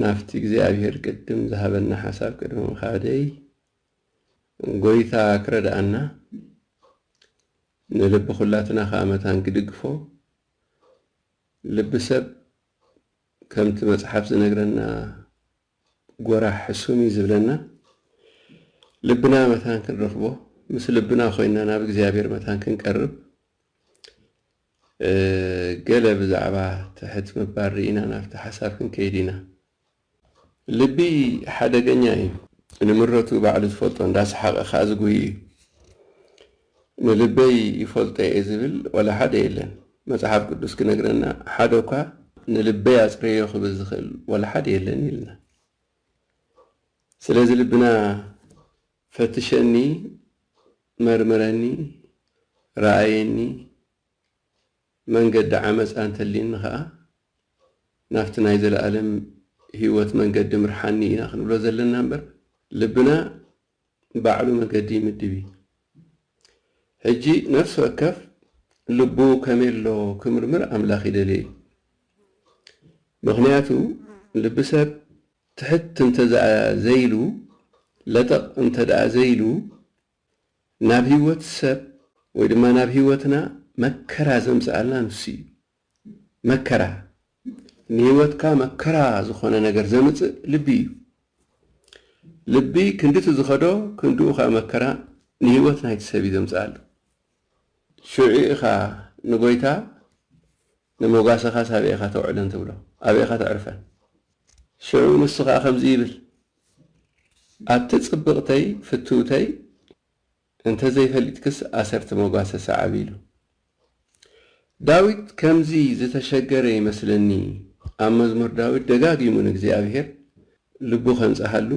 ናብቲ እግዚኣብሄር ቅድም ዝሃበና ሓሳብ ቅድሚ ምኻደይ ጎይታ ክረድኣና ንልቢ ኩላትና ከኣ መታን ክድግፎ ልቢ ሰብ ከምቲ መጽሓፍ ዝነግረና ጎራሕ ሕሱም እዩ ዝብለና ልብና መታን ክንረኽቦ ምስ ልብና ኮይና ናብ እግዚኣብሄር መታን ክንቀርብ ገለ ብዛዕባ ትሕት ምባል ርኢና ናብቲ ሓሳብ ክንከይድ ኢና። ልቢ ሓደገኛ እዩ። ንምረቱ ባዕሉ ዝፈልጦ እንዳሰሓቐ ከኣ ዝጉሂ እዩ። ንልበይ ይፈልጦ እየ ዝብል ዋላ ሓደ የለን። መጽሓፍ ቅዱስ ክነግረና ሓደኳ ንልበይ ኣጽረዮ ክብል ዝኽእል ዋላ ሓደ የለን ኢልና። ስለዚ ልብና ፈትሸኒ መርምረኒ ረኣየኒ መንገዲ ዓመጻ እንተሊኒ ከኣ ናብቲ ናይ ዘለኣለም ሂወት መንገዲ ምርሓኒ ኢና ክንብሎ ዘለና እምበር ልብና ባዕሉ መገዲ ይምድብ እዩ ሕጂ ነፍሲ ወከፍ ልቡ ከመይ ኣሎ ክምርምር ኣምላኽ ይደልዮ እዩ ምኽንያቱ ልቢ ሰብ ትሕት እንተድኣ ዘይሉ ለጠቕ እንተድኣ ዘይሉ ናብ ህይወት ሰብ ወይ ድማ ናብ ህይወትና መከራ ዘምጽኣልና ንሱ እዩ። መከራ፣ ንህይወትካ መከራ ዝኾነ ነገር ዘምጽእ ልቢ እዩ። ልቢ ክንድቲ ዝኸዶ ክንድኡ ከኣ መከራ ንህይወት ናይቲ ሰብ እዩ ዘምጽኣሉ። ሽዑ ኢኻ ንጎይታ ንሞጋሰኻስ ኣበይ ኢኻ ተውዕለን ትብሎ ኣበይ ኢኻ ተዕርፈን ሽዑ ንሱ ኸኣ ከምዚ ይብል ኣቲ ጽብቕተይ ፍትውተይ እንተ ዘይፈሊጥክስ ኣሰርቲ ሞጋሰ ሰዓቢ ኢሉ ዳዊት ከምዚ ዝተሸገረ ይመስለኒ ኣብ መዝሙር ዳዊት ደጋጊሙ ንእግዚኣብሄር ልቡ ከንጽሃሉ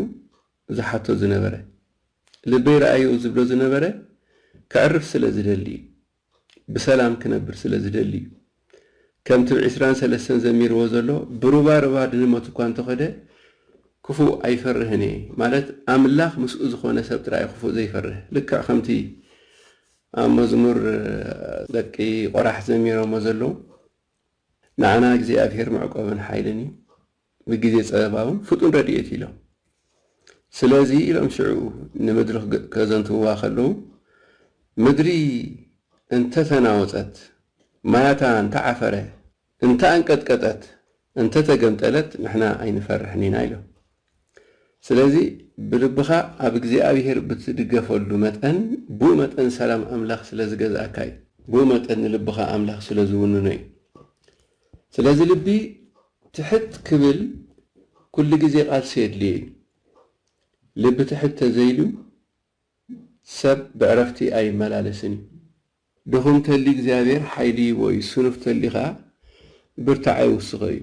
ዝሓቶ ዝነበረ ልበይ ረኣዮ ዝብሎ ዝነበረ ከዕርፍ ስለ ዝደሊ እዩ ብሰላም ክነብር ስለ ዝደሊ እዩ። ከምቲ ብ ዕስራን ሰለስተን ዘሚርዎ ዘሎ ብሩባ ሩባ ድንመት እኳ እንተኸደ ክፉእ ኣይፈርህን እየ ማለት ኣምላኽ ምስኡ ዝኾነ ሰብ ጥራይ እዩ ክፉእ ዘይፈርህ ልክዕ ከምቲ ኣብ መዝሙር ደቂ ቆራሕ ዘሚሮሞ ዘለዉ ንዓና እግዚኣብሄር መዕቆብን ሓይልን እዩ። ንግዜ ጸበባውን ፍጡን ረድኤት ኢሎም። ስለዚ ኢሎም ሽዑ ንምድሪ ከዘንትውዋ ከለዉ ምድሪ እንተ ተናወጸት፣ ማያታ እንተ ዓፈረ፣ እንተ ኣንቀጥቀጠት፣ እንተ ተገምጠለት ንሕና ኣይንፈርሕን ኢና ኢሎም። ስለዚ ብልብኻ ኣብ እግዚኣብሄር ብትድገፈሉ መጠን ብኡ መጠን ሰላም ኣምላኽ ስለ ዝገዝኣካ እዩ። ብኡ መጠን ንልብኻ ኣምላኽ ስለ ዝውንኖ እዩ። ስለዚ ልቢ ትሕት ክብል ኩሉ ግዜ ቃልሲ የድልዮ ኢዩ። ልቢ ትሕት ተዘይሉ ሰብ ብዕረፍቲ ኣይመላለስን ኢዩ። ድኹም ተልዩ እግዚኣብሔር ሓይሊ ይህቦ ኢዩ፣ ስኑፍ ተልዩ ከኣ ብርታዐ ይውስኾ ኢዩ።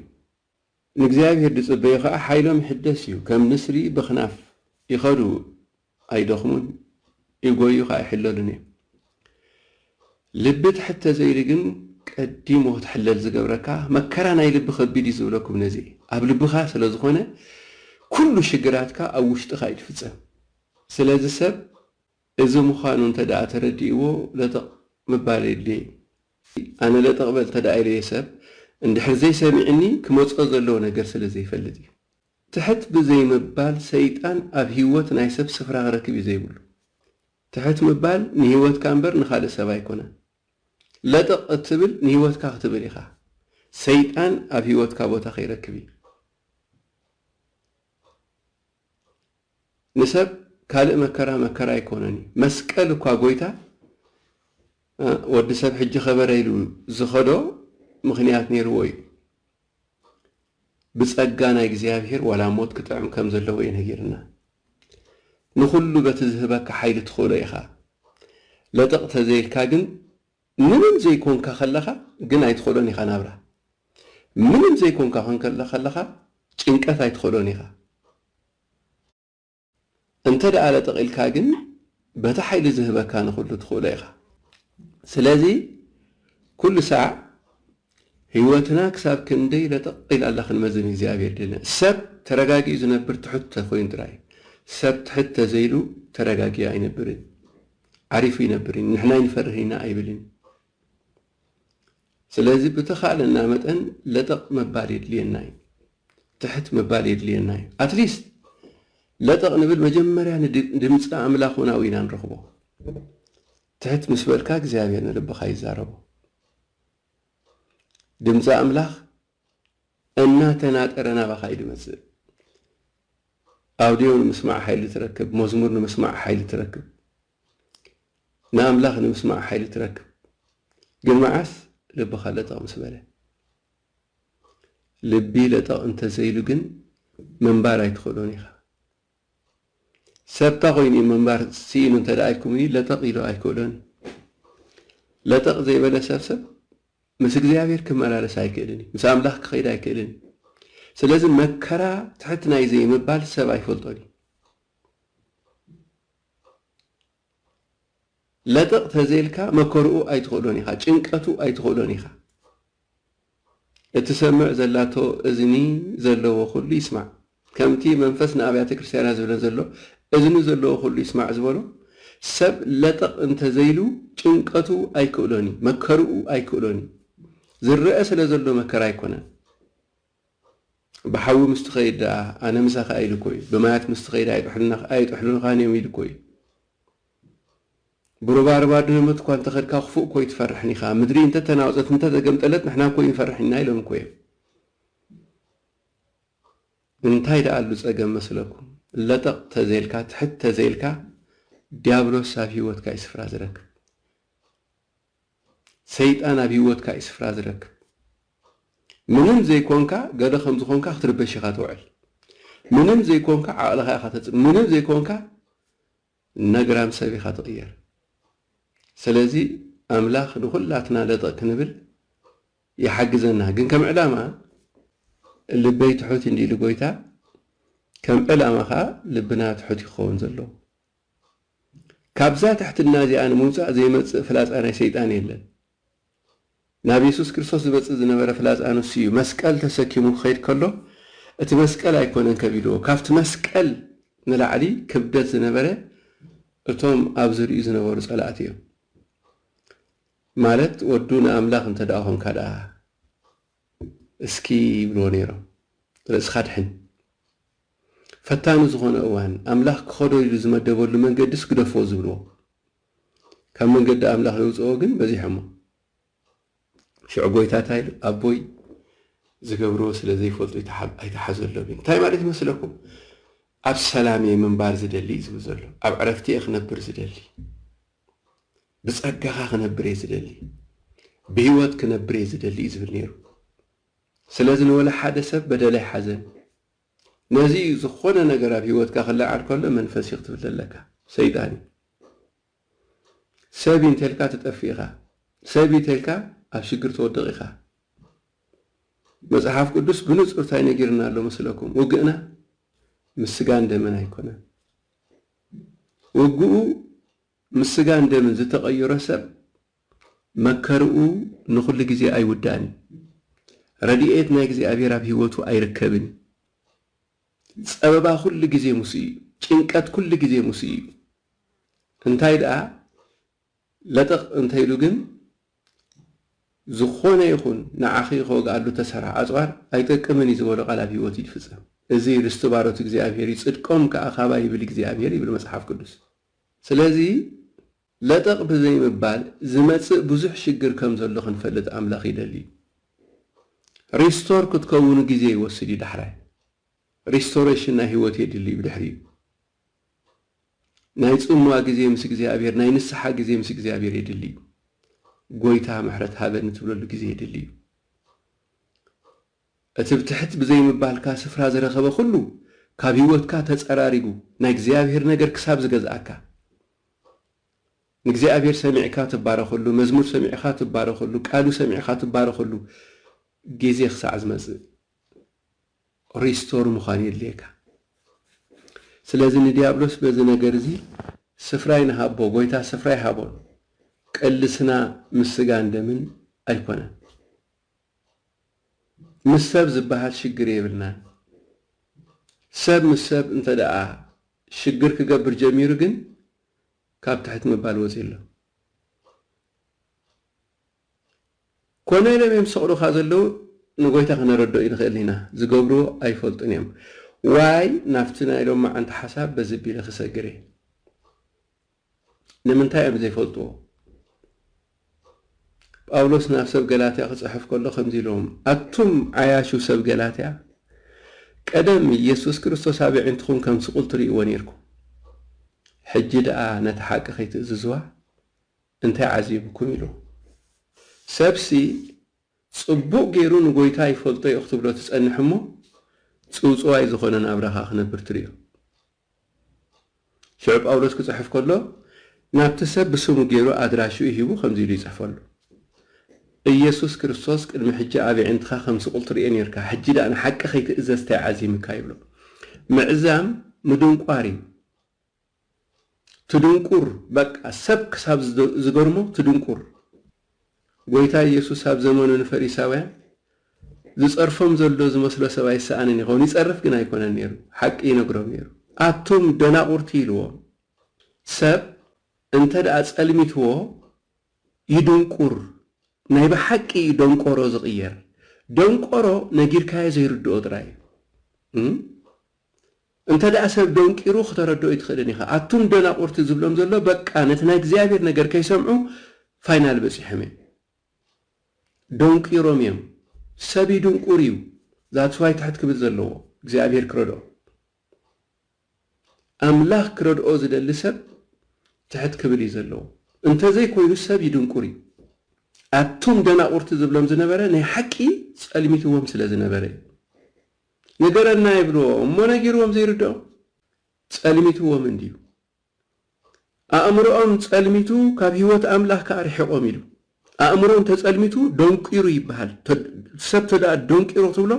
ንእግዚኣብሔር ዝጽበዩ ከኣ ሓይሎም ይሕደስ ኢዩ፣ ከም ንስሪ ብኽናፍ ይኸዱ ኣይደኽሙን ይጎዩ ከኣ ኣይሕለሉን እዮም። ልቢ ትሕት ተዘይሉ ግን ቀዲሙ ክትሕለል ዝገብረካ መከራ ናይ ልቢ ከቢድ እዩ ዝብለኩም ነዚ እዩ። ኣብ ልብኻ ስለ ዝኾነ ኩሉ ሽግራትካ ኣብ ውሽጥኻ እዩ ዝፍጸም። ስለዚ ሰብ እዚ ምዃኑ እንተደኣ ተረዲእዎ ለጠቕ ምባል የድልዮ እዩ። ኣነ ለጠቕ በል እንተደኣ ኢለዮ ሰብ እንድሕር ዘይሰሚዕኒ ክመጾ ዘለዎ ነገር ስለ ዘይፈልጥ እዩ። ትሕት ብዘይ ምባል ሰይጣን ኣብ ሂወት ናይ ሰብ ስፍራ ክረክብ እዩ ዘይብሉ። ትሕት ምባል ንሂወትካ እምበር ንኻልእ ሰብ ኣይኮነን። ለጠቕ እትብል ንሂወትካ ክትብል ኢኻ። ሰይጣን ኣብ ሂወትካ ቦታ ከይረክብ እዩ። ንሰብ ካልእ መከራ መከራ ኣይኮነን እዩ መስቀል እኳ ጎይታ ወዲ ሰብ ሕጂ ከበረ ኢሉ ዝኸዶ ምኽንያት ኔርዎ እዩ ብጸጋ ናይ እግዚኣብሄር ዋላ ሞት ክጥዕም ከም ዘለዎ እዩ ነጊርና ንኹሉ በቲ ዝህበካ ሓይሊ ትኽእሎ ኢኻ ለጠቕ ተዘይልካ ግን ምንም ዘይኮንካ ከለኻ ግን ኣይትኸዶን ኢኻ ናብራ ምንም ዘይኮንካ ኮንካ ከለኻ ጭንቀት ኣይትኸዶን ኢኻ እንተ ደኣ ለጠቂልካ ግን በቲ ሓይሊ ዝህበካ ንኹሉ ትኽእሎ ኢኻ ስለዚ ኩሉ ሳዕ ህይወትና ክሳብ ክንደይ ለጠቅ ኢላ ኣላ ክንመዝን እግዚኣብሔር ድልና ሰብ ተረጋጊኡ ዝነብር ትሑት ተኮይኑ ጥራይ ሰብ ትሕት ተዘይሉ ተረጋጊኡ ኣይነብርን ዓሪፉ ይነብር እዩ ንሕና ኣይንፈርህን ኢና ኣይብልን እዩ። ስለዚ ብተኻእለና መጠን ለጠቕ ምባል የድልየና እዩ። ትሕት ምባል የድልየና እዩ። ኣትሊስት ለጠቕ ንብል መጀመርያ ንድምፂ ኣምላኽ እውን ኣብኡ ኢና ንረኽቦ። ትሕት ምስ በልካ እግዚኣብሔር ንልብኻ ይዛረቦ። ድምፂ ኣምላኽ እናተናጠረ ናባኻ እዩ ዝመጽእ። ኣውድዮ ንምስማዕ ሓይሊ ትረክብ፣ መዝሙር ንምስማዕ ሓይሊ ትረክብ፣ ንኣምላኽ ንምስማዕ ሓይሊ ትረክብ። ግን መዓስ ልብኻ ለጠቕ ምስ በለ? ልቢ ለጠቕ እንተዘይሉ ግን ምንባር ኣይትኽእሎን ኢኻ። ሰብታ ኮይኑ እዩ ምንባር ስኢኑ እንተ ኢልኩምኒ ለጠቕ ኢሉ ኣይክእሎን ለጠቕ ዘይበለ ሰብ ሰብ ምስ እግዚኣብሔር ክመላለስ ኣይክእልን እዩ ምስ ኣምላኽ ክኸይድ ኣይክእልን እዩ ስለዚ መከራ ትሕት ናይ ዘይምባል ሰብ ኣይፈልጦን እዩ ለጠቕ ተዘይልካ መከርኡ ኣይትኽእሎን ኢኻ ጭንቀቱ ኣይትኽእሎን ኢኻ እትሰምዕ ዘላቶ እዝኒ ዘለዎ ኹሉ ይስማዕ ከምቲ መንፈስ ንኣብያተ ክርስትያናት ዝብለን ዘሎ እዝኒ ዘለዎ ኹሉ ይስማዕ ዝበሎ ሰብ ለጠቕ እንተዘይሉ ጭንቀቱ ኣይክእሎን እዩ መከርኡ ኣይክእሎን እዩ ዝረኣ ስለ ዘሎ መከራ ኣይኮነን ብሓዊ ምስ ትኸይድ ደኣ ኣነ ምሳኻ ኢሉ እኮዩ ብማያት ምስ ትኸይድ ኣይጥሕሉንኻን እዮም ኢሉ እኮዩ ብሩባ ርባ ድህኑት እኳ እንተኸድካ ክፉእ እኮዩ ትፈርሕን ኢኻ ምድሪ እንተተናወጸት እንተተገምጠለት ንሕና እኮዩ ንፈርሕ ኢና ኢሎም እኮዮም እንታይ ደኣ ኣሉ ጸገም መስለኩም ለጠቕ ተዘይልካ ትሕት ተዘይልካ ዲያብሎስ ኣብ ሂወትካ እዩ ስፍራ ዝረክብ ሰይጣን ኣብ ሂወትካ እዩ ስፍራ ዝረክብ ምንም ዘይኮንካ ገለ ከም ዝኮንካ ክትርበሽ ኢካ ትውዕል ምንም ዘይኮንካ ዓቅልካ ኢካ ተጽ ምንም ዘይኮንካ ነግራም ሰብ ኢካ ትቅየር ሰለዚ ኣምላክ ንኩላትና ለጠቅ ክንብል ይሓግዘና ግን ከም ዕላማ ልበይ ትሑት እንዲሉ ጎይታ ከም ዕላማ ከኣ ልብና ትሑት እዩ ክከውን ዘለዎ ካብዛ ትሕትና እዚኣ ንምውጻእ ዘይመጽእ ፍላጻ ናይ ሰይጣን የለን። ናብ የሱስ ክርስቶስ ዝመጽእ ዝነበረ ፍላጻ ንሱ እዩ። መስቀል ተሰኪሙ ክኸይድ ከሎ እቲ መስቀል ኣይኮነን ከቢድዎ፣ ካብቲ መስቀል ንላዕሊ ክብደት ዝነበረ እቶም ኣብ ዝርይኡ ዝነበሩ ጸላእቲ እዮም። ማለት ወዱ ንኣምላኽ እንተድኣ ኾንካ ድኣ እስኪ ይብልዎ ነይሮም ርእስኻ ኣድሕን። ፈታኒ ዝኾነ እዋን ኣምላኽ ክኸዶ ኢሉ ዝመደበሉ መንገዲስ ግደፍዎ ዝብልዎ ካብ መንገዲ ኣምላኽ የውጽእዎ ግን በዚሖሞ። ሽዑ ጎይታ እንታይ ኢሉ ኣቦይ ዝገብርዎ ስለ ዘይፈልጡ ኣይትሓዘሎም ኢሉ። እንታይ ማለት ይመስለኩም? ኣብ ሰላም እየ ምንባር ዝደሊ እዩ ዝብል ዘሎ። ኣብ ዕረፍቲ እየ ክነብር ዝደሊ። ብጸጋኻ ክነብር እየ ዝደሊ፣ ብህይወት ክነብር እየ ዝደሊ እዩ ዝብል ነይሩ። ስለዚ ንወላ ሓደ ሰብ በደል ኣይሓዘን። ነዚ እዩ ዝኾነ ነገር ኣብ ህይወትካ ክለዓል ከሎ መንፈስ እዩ ክትብል ዘለካ፣ ሰይጣን እዩ። ሰብ እዩ እንተልካ ትጠፍእ ኢኻ፣ ሰብ እዩ ተልካ ኣብ ሽግር ትወድቕ ኢኻ። መጽሓፍ ቅዱስ ብንጹር እንታይ ነጊርና ኣሎ መስለኩም? ውግእና ምስ ስጋን ደምን ኣይኮነን። ውግኡ ምስ ስጋን ደምን ዝተቐዩረ ሰብ መከርኡ ንኹሉ ግዜ ኣይውዳእን እዩ። ረድኤት ናይ እግዚኣብሔር ኣብ ሕይወቱ ኣይርከብን እዩ። ጸበባ ኩሉ ግዜ ምስኡ እዩ። ጭንቀት ኩሉ ግዜ ምስኡ እዩ። እንታይ ደኣ ለጠቕ እንተ ኢሉ ግን ዝኾነ ይኹን ንዓኺ ክወግኣሉ እተሰርሐ ኣጽዋር ኣይጠቅምን እዩ ዝበሎ ቃል ኣብ ሕይወቱ ይፍጸም። እዚ ርስቲ ባሮት እግዚኣብሔር እዩ፣ ጽድቆም ከኣ ካባይ ይብል እግዚኣብሔር ይብል መጽሓፍ ቅዱስ። ስለዚ ለጠቕ ብዘይምባል ዝመጽእ ብዙሕ ሽግር ከምዘሎ ክንፈልጥ ኣምላኽ ይደሊ እዩ። ሪስቶር ክትከውኑ ግዜ ይወስድ እዩ ዳሕራይ ሪስቶረሽን ናይ ህይወት የድሊ እዩ ብድሕሪኡ ናይ ጽምዋ ግዜ ምስ እግዚኣብሔር ናይ ንስሓ ግዜ ምስ እግዚኣብሔር የድሊ እዩ። ጎይታ ምሕረት ሃበኒ ትብለሉ ግዜ የድሊ እዩ። እቲ ብትሕት ብዘይምባልካ ስፍራ ዝረኸበ ኩሉ ካብ ህይወትካ ተጸራሪጉ ናይ እግዚኣብሔር ነገር ክሳብ ዝገዝኣካ ንእግዚኣብሔር ሰሚዕካ ትባረኸሉ መዝሙር ሰሚዕኻ ትባረኸሉ ቃሉ ሰሚዕኻ ትባረኸሉ ግዜ ክሳዕ ዝመጽእ ሪስቶር ምዃን የድልየካ ስለዚ ንዲያብሎስ በዚ ነገር እዚ ስፍራ ይንሃቦ ጎይታ ስፍራ ይሃቦን ቅልስና ምስ ስጋን ደምን ኣይኮነን ምስ ሰብ ዝብሃል ሽግር የብልናን። ሰብ ምስ ሰብ እንተድኣ ሽግር ክገብር ጀሚሩ ግን ካብ ትሕት ምባል ወጺኡ'ሎ። ኮነ ኢሎም እዮም ዝሰቅሉኻ ዘለዉ ንጎይታ ክነረድኦ ኣይንኽእልን ኢና። ዝገብርዎ ኣይፈልጡን እዮም። ዋይ ናብቲ ናይ ሎማዓንቲ ሓሳብ በዚ ኣቢለ ክሰግር እየ። ንምንታይ እዮም ዘይፈልጥዎ? ጳውሎስ ናብ ሰብ ገላትያ ክጽሕፍ ከሎ ከምዚ ኢሎም፣ ኣቱም ዓያሹ ሰብ ገላትያ፣ ቀደም ኢየሱስ ክርስቶስ ኣብ የዒንትኹም ከም ስቑል ትርእይዎ ኔርኩም፣ ሕጂ ደኣ ነታ ሓቂ ከይትእዝዝዋ እንታይ ዓዚቡኩም? ኢሉ። ሰብሲ ጽቡቕ ጌሩ ንጐይታ ይፈልጦ እዩ ክትብሎ ትጸንሕ እሞ፣ ጽውጽዋይ ዝኾነ ናብራኻ ክነብር ትርእዮ። ሽዑ ጳውሎስ ክጽሕፍ ከሎ ናብቲ ሰብ ብስሙ ገይሩ ኣድራሽኡ ሂቡ ከምዚ ኢሉ ይጽሕፈሉ ኢየሱስ ክርስቶስ ቅድሚ ሕጂ ኣብ የዒንትኻ ከም ስቑል ትርእዮ ኔርካ ሕጂ ደኣ ንሓቂ ከይትእዘዝ ታይ ዓዚምካ ይብሎ ምዕዛም ምድንቋር እዩ ትድንቁር በቃ ሰብ ክሳብ ዝገርሞ ትድንቁር። ጐይታ ኢየሱስ ኣብ ዘመኑ ንፈሪሳውያን ዚጸርፎም ዘሎ ዚመስሎ ሰብ ኣይሰኣንን ይኸውን፣ ይጸርፍ ግን ኣይኰነን ነይሩ፣ ሓቂ ይነግሮም ነይሩ። ኣቱም ደናቝርቲ ኢልዎም፣ ሰብ እንተደኣ ጸልሚትዎ ይድንቍር፣ ናይ ብሓቂ እዩ ደንቈሮ ዚቕየር፣ ደንቈሮ ነጊርካዮ ዘይርድኦ ጥራይ እዩ። እንተደኣ ሰብ ደንቂሩ ክተረድኦ ኣይትኽእልን ኢኻ። ኣቱም ደናቑርቲ ዝብሎም ዘሎ በቃ ነቲ ናይ እግዚኣብሄር ነገር ከይሰምዑ ፋይናል በጺሖም እዮም። ደንቂሮም እዮም። ሰብ ይድንቁር እዩ that's why ትሕት ክብል ዘለዎ እግዚኣብሄር ክረድኦ። ኣምላኽ ክረድኦ ዝደሊ ሰብ ትሕት ክብል እዩ ዘለዎ። እንተዘይ ኮይኑ ሰብ ይድንቁር እዩ። ኣቱም ደናቑርቲ ዝብሎም ዝነበረ ናይ ሓቂ ጸልሚትዎም ስለ ዝነበረ እዩ። ንገረና ይብልዎ እሞ ነጊርዎም ዘይርድኦም ጸልሚትዎም እንድዩ ኣእምርኦም ጸልሚቱ ካብ ህይወት ኣምላኽ ከኣ ርሒቆም ኢሉ ኣእምሮ እንተ ጸልሚቱ ደንቂሩ ይብሃል ሰብ ተደኣ ደንቂሩ ክትብሎ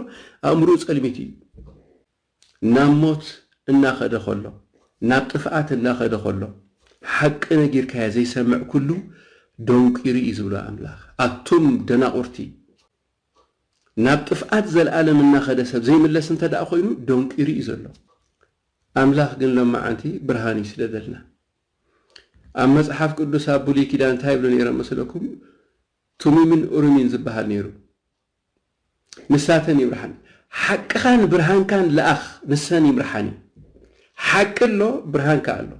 ኣእምርኡ ጸልሚቱ እዩ ናብ ሞት እናኸደ ከሎ ናብ ጥፍኣት እናኸደ ከሎ ሓቂ ነጊርካዮ ዘይሰምዕ ኩሉ ደንቂሩ እዩ ዝብሎ ኣምላኽ ኣቱም ደናቁርቲ ናብ ጥፍኣት ዘልኣለም እናኸደ ሰብ ዘይምለስ እንተድኣ ኮይኑ ደንቂሩ እዩ ዘሎ። ኣምላኽ ግን ሎማዓንቲ ብርሃን እዩ ስለደልና። ኣብ መጽሓፍ ቅዱስ ኣብ ብሉይ ኪዳን እንታይ ይብሉ ነይሮም መስለኩም ቱሚምን ኡሪሚን ዝብሃል ነይሩ ንሳተን ይምርሓን ሓቅኻን ብርሃንካን ልኣኽ ንሰን ይምርሓን እዩ ሓቂ ኣሎ ብርሃን ከኣ ኣሎ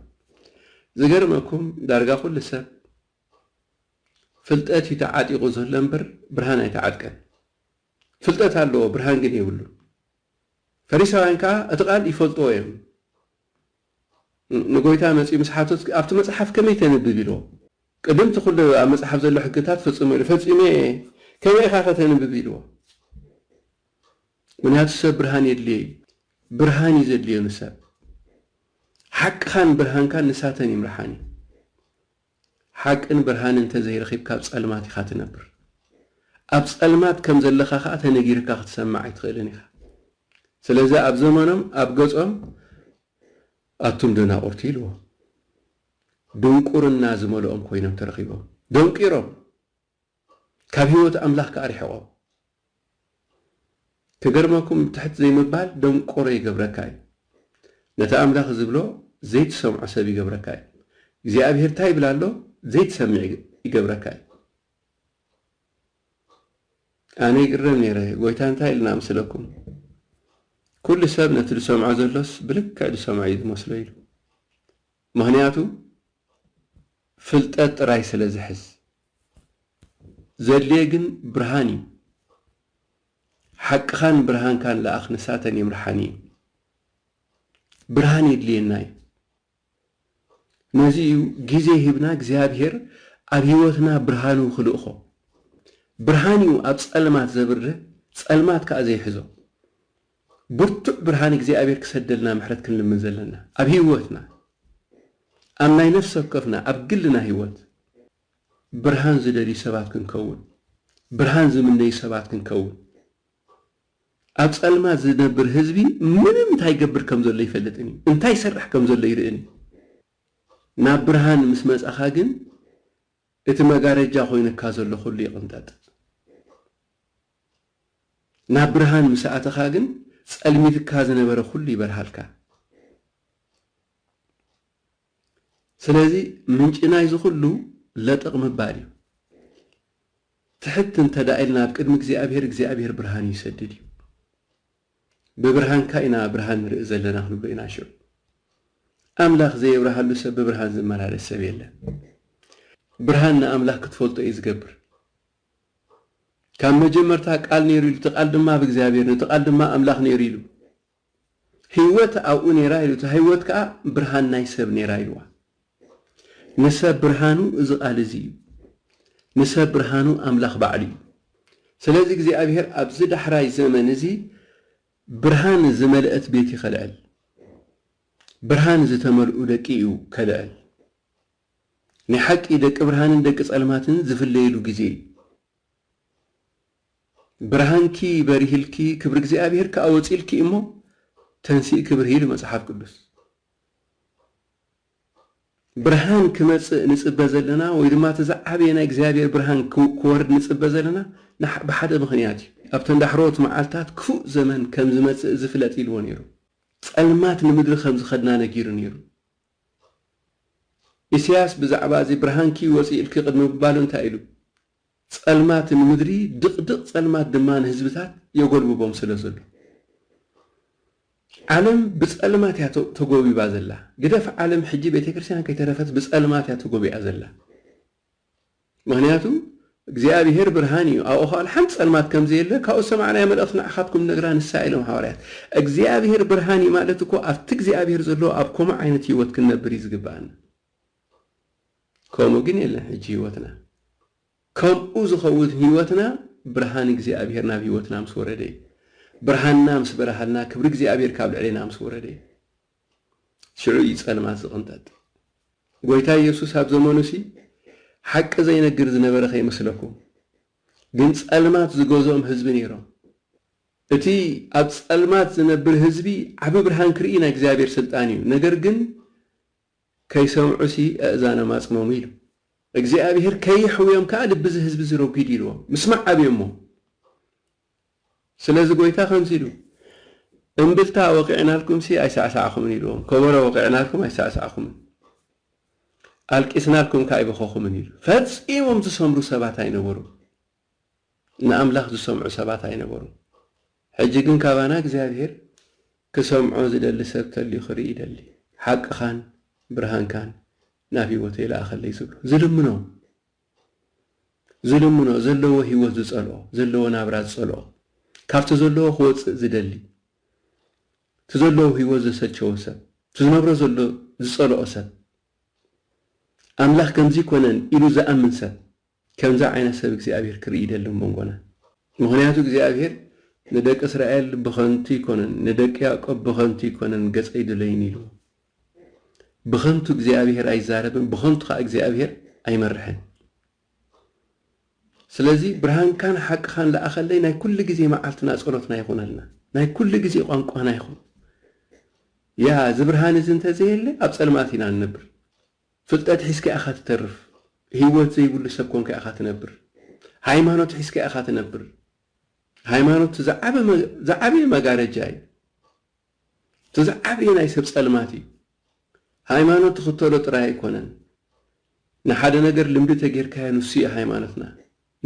ዝገርመኩም ዳርጋ ኩሉ ሰብ ፍልጠት እዩ ተዓጢቑ ዘሎ እምበር ብርሃን ኣይተዓጥቀን። ፍልጠት ኣለዎ ብርሃን ግን የብሉን። ፈሪሳውያን ከኣ እቲ ቃል ይፈልጥዎ እዮም። ንጎይታ መጺኡ ምስ ሓተቱ ኣብቲ መጽሓፍ ከመይ ተንብብ ኢልዎ። ቅድም እቲ ኩሉ ኣብ መጽሓፍ ዘሎ ሕግታት ፈጽሙ ኢሉ ፈጺመ እየ ከመይ ኢኻ ከ ተንብብ ኢልዎ። ምክንያቱ ሰብ ብርሃን የድልዮ እዩ። ብርሃን እዩ ዘድልዮ ንሰብ። ሓቅኻን ብርሃንካን ንሳተን ይምርሓን እዩ። ሓቅን ብርሃንን እንተ ዘይረኺብካ ኣብ ጸልማት ኢኻ ትነብር። ኣብ ጸልማት ከም ዘለኻ ከኣ ተነጊርካ ክትሰምዕ ኣይትኽእልን ኢኻ። ስለዚ ኣብ ዘመኖም ኣብ ገጾም ኣቱም ደናቑርቲ ኢልዎም። ድንቁርና ዝመልኦም ኮይኖም ተረኺቦም። ደንቂሮም! ካብ ህይወት ኣምላኽ ከኣ ርሕቆ። ክገርመኩም ትሕት ዘይምባል ደንቆሮ ይገብረካ እዩ ነቲ ኣምላኽ ዝብሎ ዘይትሰምዖ ሰብ ይገብረካ እዩ እግዚኣብሄር ታይ ይብል ኣሎ ዘይትሰምዕ ይገብረካ እዩ ኣነ ይግረም ነይረ ጎይታ እንታይ ኢልና ምስለኩም ኩሉ ሰብ ነቲ ዝሰምዖ ዘሎስ ብልክዕ ዝሰምዖ እዩ ዝመስሎ ኢሉ ምኽንያቱ ፍልጠት ጥራይ ስለ ዝሕዝ። ዘድልዬ ግን ብርሃን እዩ። ሓቅኻን ብርሃንካን ልኣኽ ንሳተን ይምርሓን እዩን። ብርሃን የድልዬና እዩ። ነዚ እዩ ግዜ ሂብና እግዚኣብሄር ኣብ ህይወትና ብርሃኑ ክልእኾ። ብርሃን እዩ ኣብ ጸልማት ዘብርህ ጸልማት ከኣ ዘይሕዞ። ብርቱዕ ብርሃን እግዚኣብሔር ክሰደልና ምሕረት ክንልምን ዘለና ኣብ ህይወትና ኣብ ናይ ነፍሲ ወከፍና ኣብ ግልና ህይወት ብርሃን ዝደልዩ ሰባት ክንከውን ብርሃን ዝምነዩ ሰባት ክንከውን ኣብ ጸልማት ዝነብር ህዝቢ ምንም እንታይ ይገብር ከም ዘሎ ኣይፈልጥን እዩ እንታይ ይሰርሕ ከም ዘሎ ኣይርእን እዩ ናብ ብርሃን ምስ መጻኻ ግን እቲ መጋረጃ ኮይኑካ ዘሎ ኩሉ ይቕንጠጥ። ናብ ብርሃን ምስ ኣተኻ ግን ጸልሚትካ ዝነበረ ኩሉ ይበርሃልካ። ስለዚ ምንጪ ናይዚ ኩሉ ለጠቕ ምባል እዩ። ትሕት እንተድኣ ኢልና ኣብ ቅድሚ እግዚኣብሄር እግዚኣብሄር ብርሃኑ ይሰድድ እዩ። ብብርሃንካ ኢና ብርሃን ንርኢ ዘለና ክንብሎ ኢና ሽዑ። ኣምላኽ ዘየብርሃሉ ሰብ ብብርሃን ዝመላለስ ሰብ የለን። ብርሃን ንኣምላኽ ክትፈልጦ እዩ ዝገብር። ካብ መጀመርታ ቃል ነይሩ ኢሉ እቲ ቃል ድማ ኣብ እግዚኣብሔር ነቲ ቃል ድማ ኣምላኽ ነይሩ ኢሉ ህይወት ኣብኡ ነይራ ኢሉ እታ ህይወት ከኣ ብርሃን ናይ ሰብ ነይራ ኢልዋ። ንሰብ ብርሃኑ እዚ ቃል እዚ እዩ። ንሰብ ብርሃኑ ኣምላኽ ባዕሉ እዩ። ስለዚ እግዚኣብሄር ኣብዚ ዳሕራይ ዘመን እዚ ብርሃን ዝመልአት ቤት እዩ ከልዕል። ብርሃን ዝተመልኡ ደቂ እዩ ከልዕል። ናይ ሓቂ ደቂ ብርሃንን ደቂ ጸልማትን ዝፍለይሉ ግዜ እዩ። ብርሃንኪ በሪህልኪ ክብሪ እግዚኣብሄር ከኣ ወጺልኪ እሞ ተንሲእኪ ብርሂ ኢሉ መጽሓፍ ቅዱስ። ብርሃን ክመጽእ ንጽበ ዘለና ወይ ድማ እቲ ዝዓበየ ናይ እግዚኣብሔር ብርሃን ክወርድ ንጽበ ዘለና ብሓደ ምኽንያት እዩ። ኣብተን ዳሕረዎት መዓልትታት ክፉእ ዘመን ከም ዝመጽእ እዚ ፍለጥ ኢልዎ ነይሩ። ጸልማት ንምድሪ ከም ዝኸድና ነጊሩ ነይሩ። ኢሳያስ ብዛዕባ እዚ ብርሃንኪ ወጽእ ኢልኪ ቅድሚ ምባሉ እንታይ ኢሉ? ጸልማት ንምድሪ፣ ድቕድቕ ጸልማት ድማ ንህዝብታት የጎልብቦም ስለ ዘሎ። ዓለም ብጸልማት እያ ተጎቢባ ዘላ። ግደፍ ዓለም ሕጂ ቤተክርስቲያን ከይተረፈት ብጸልማት እያ ተጎቢኣ ዘላ። ምኽንያቱ እግዚኣብሔር ብርሃን እዩ ኣብኡ ኸኣል ሓንቲ ጸልማት ከም ዘየለ ካብኡ ዝሰማዕናያ መልእኽቲ ንዓኻትኩም ንነግራ ንሳ እያ ኢሎም ሓዋርያት። እግዚኣብሔር ብርሃን እዩ ማለት እኮ ኣብቲ እግዚኣብሔር ዘለዎ ኣብ ኮምኡ ዓይነት ሕይወት ክንነብር እዩ ዝግብኣና። ከምኡ ግን የለን ሕጂ ህይወትና ከምኡ ዝኸውን ህይወትና ብርሃን እግዚኣብሔር ናብ ህይወትና ምስ ወረደ እዩ ብርሃንና ምስ በረሃልና ክብሪ እግዚኣብሔር ካብ ልዕሌና ምስ ወረደ እዩ ሽዑ እዩ ጸልማት ዝቕንጠጥ ጎይታ ኢየሱስ ኣብ ዘመኑ ሲ ሓቂ ዘይነግር ዝነበረ ከይመስለኩም ግን ጸልማት ዝገዝኦም ህዝቢ ነይሮም እቲ ኣብ ጸልማት ዝነብር ህዝቢ ዓቢ ብርሃን ክርኢ ናይ እግዚኣብሔር ስልጣን እዩ ነገር ግን ከይሰምዑሲ ኣእዛኖም ኣጽመሙ ኢሉ። እግዚኣብሄር ከየሕውዮም ከኣ ልቢ እዚ ህዝቢ እዚ ረጒዱ ኢልዎም። ምስማዕ ኣብዮሞ። ስለዚ ጐይታ ከምዚ ኢሉ፣ እምብልታ ወቒዕናልኩምሲ ኣይሳዕሳዕኹምን ኢልዎም፣ ከበሮ ወቒዕናልኩም ኣይሳዕሳዕኹምን፣ ኣልቂስናልኩም ከኣ ኣይበኸኹምን ኢሉ። ፈጺሞም ዝሰምሩ ሰባት ኣይነበሩን። ንኣምላኽ ዝሰምዑ ሰባት ኣይነበሩን። ሕጂ ግን ካባና እግዚኣብሄር ክሰምዖ ዝደሊ ሰብ ተልዩ ክርኢ ይደሊ። ሓቅኻን ብርሃንካን ናብ ህይወተይ ልኣኸለይ ዝብሎ። ዝልምኖ። ዝልምኖ። ዘለዎ ህይወት ዝጸልኦ። ዘለዎ ናብራ ዝጸልኦ። ካብቲ ዘለዎ ክወጽእ ዝደሊ። እቲ ዘለዎ ህይወት ዘሰልቸዎ ሰብ። እቲ ዝነብሮ ዘሎ ዝጸልኦ ሰብ። ኣምላኽ ከምዚ ኣይኮነን ኢሉ ዝኣምን ሰብ። ከምዚ ዓይነት ሰብ እግዚኣብሄር ክርኢ ይደሊ ኣብ መንጎና። ምኽንያቱ እግዚኣብሄር ንደቂ እስራኤል ብኸንቱ ኣይኮነን ንደቂ ያእቆብ ብኸንቱ ኣይኮነን ገጸይ ድለዩኒ ኢልዎም። ብኸንቱ እግዚኣብሄር ኣይዛረብን ብኸንቱ ከኣ እግዚኣብሄር ኣይመርሕን። ስለዚ ብርሃንካን ሓቅኻን ልኣኸለይ ናይ ኩሉ ግዜ መዓልትና ጸሎትና ይኹነልና። ናይ ኩሉ ግዜ ቋንቋና ይኹን። ያ እዚ ብርሃን እዚ እንተዘየለ ኣብ ጸልማት ኢና እንነብር። ፍልጠት ሒዝካ ኢኻ ትተርፍ ሂወት ዘይብሉ ሰብ ኮንካ ኢኻ ትነብር ሃይማኖት ሒዝካ ኢኻ ትነብር ሃይማኖት እቲ ዝዓበየ መጋረጃ እዩ እቲ ዝዓበየ ናይ ሰብ ጸልማት እዩ ሃይማኖት ትኽተሎ ጥራይ ኣይኮነን ንሓደ ነገር ልምዲ ተጌርካዮ ንሱ እዩ ሃይማኖትና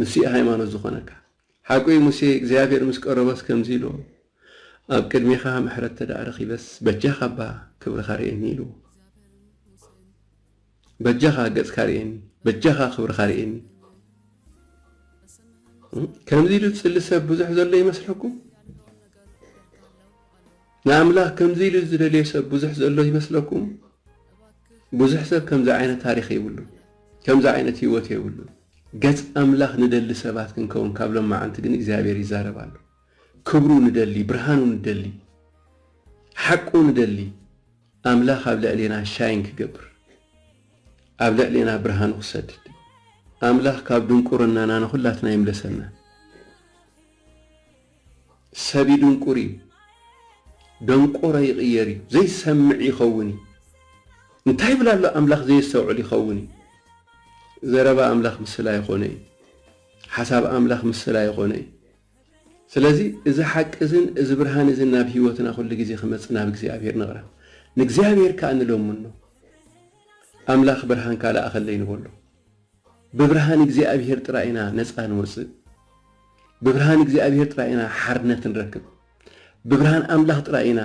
ንሱ'ዩ ሃይማኖት ዝኾነካ። ሓቁ'ዩ ሙሴ እግዚኣብሄር ምስ ቀረቦስ ከምዚ ኢልዎ፣ ኣብ ቅድሜኻ ምሕረት ተደኣ ረኺበስ፣ በጃኻ'ባ ክብርኻ ርኤኒ ኢልዎ። በጃኻ ገጽካ ርኤኒ፣ በጃኻ ክብርኻ ርኤኒ። ከምዚ ኢሉ ዝጽሊ ሰብ ብዙሕ ዘሎ ይመስለኩም? ንኣምላኽ ከምዚ ኢሉ ዝደልዮ ሰብ ብዙሕ ዘሎ ይመስለኩም? ብዙሕ ሰብ ከምዚ ዓይነት ታሪኽ የብሉን። ከምዚ ዓይነት ህይወት የብሉን። ገጽ ኣምላኽ ንደሊ ሰባት ክንከውን ካብ ሎማዓንቲ ግን እግዚኣብሔር ይዛረብ ኣሎ። ክብሩ ንደሊ፣ ብርሃኑ ንደሊ፣ ሓቁ ንደሊ ኣምላኽ ኣብ ልዕሌና ሻይን ክገብር ኣብ ልዕሌና ብርሃኑ ክሰድድ ኣምላኽ ካብ ድንቁርናና ንኹላትና ይምለሰና። ሰብ ይድንቁር እዩ ደንቆሮ ይቅየር እዩ ዘይሰምዕ ይከውን እዩ እንታይ ይብል ኣሎ ኣምላክ ዘየስተውዕል ይከውን እዩ ዘረባ ኣምላክ ምስላ ኣይኮነ እዩ ሓሳብ ኣምላክ ምስላ ኣይኮነ እዩ ስለዚ እዚ ሓቂ እዝን እዚ ብርሃን እዝን ናብ ህይወትና ኩሉ ግዜ ክመጽእ ናብ እግዚኣብሔር ንቕረብ ንእግዚኣብሔር ከኣ ንለምኖ ኣምላክ ብርሃንካ ለኣኸለይ ንበሎ ብብርሃን እግዚኣብሄር ጥራይ ኢና ነጻ ንወጽእ ብብርሃን እግዚኣብሄር ጥራይ ኢና ሓርነት ንረክብ ብብርሃን ኣምላኽ ጥራይ ኢና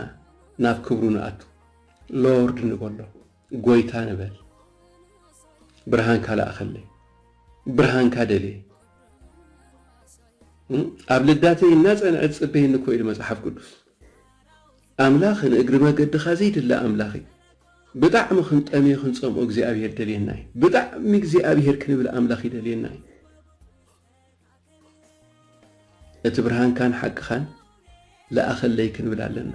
ናብ ክብሩ ንኣቱ ሎርድ ንበሎ ጎይታ ንበል ብርሃንካ ላእኸለይ ብርሃንካ ደልየ ኣብ ልዳተይ እናጸንዐ ትጽበየኒ እኮ ኢሉ መጽሓፍ ቅዱስ ኣምላክ ንእግሪ መገድካ ዘይድለ ኣምላክ እዩ ብጣዕሚ ክንጠምዮ ክንጸምኦ እግዚኣብሄር ደልየና እዩ ብጣዕሚ እግዚኣብሄር ክንብል ኣምላክ ይደልየና እዩ እቲ ብርሃንካን ሓቅካን ለኣኸለይ ክንብል ኣለና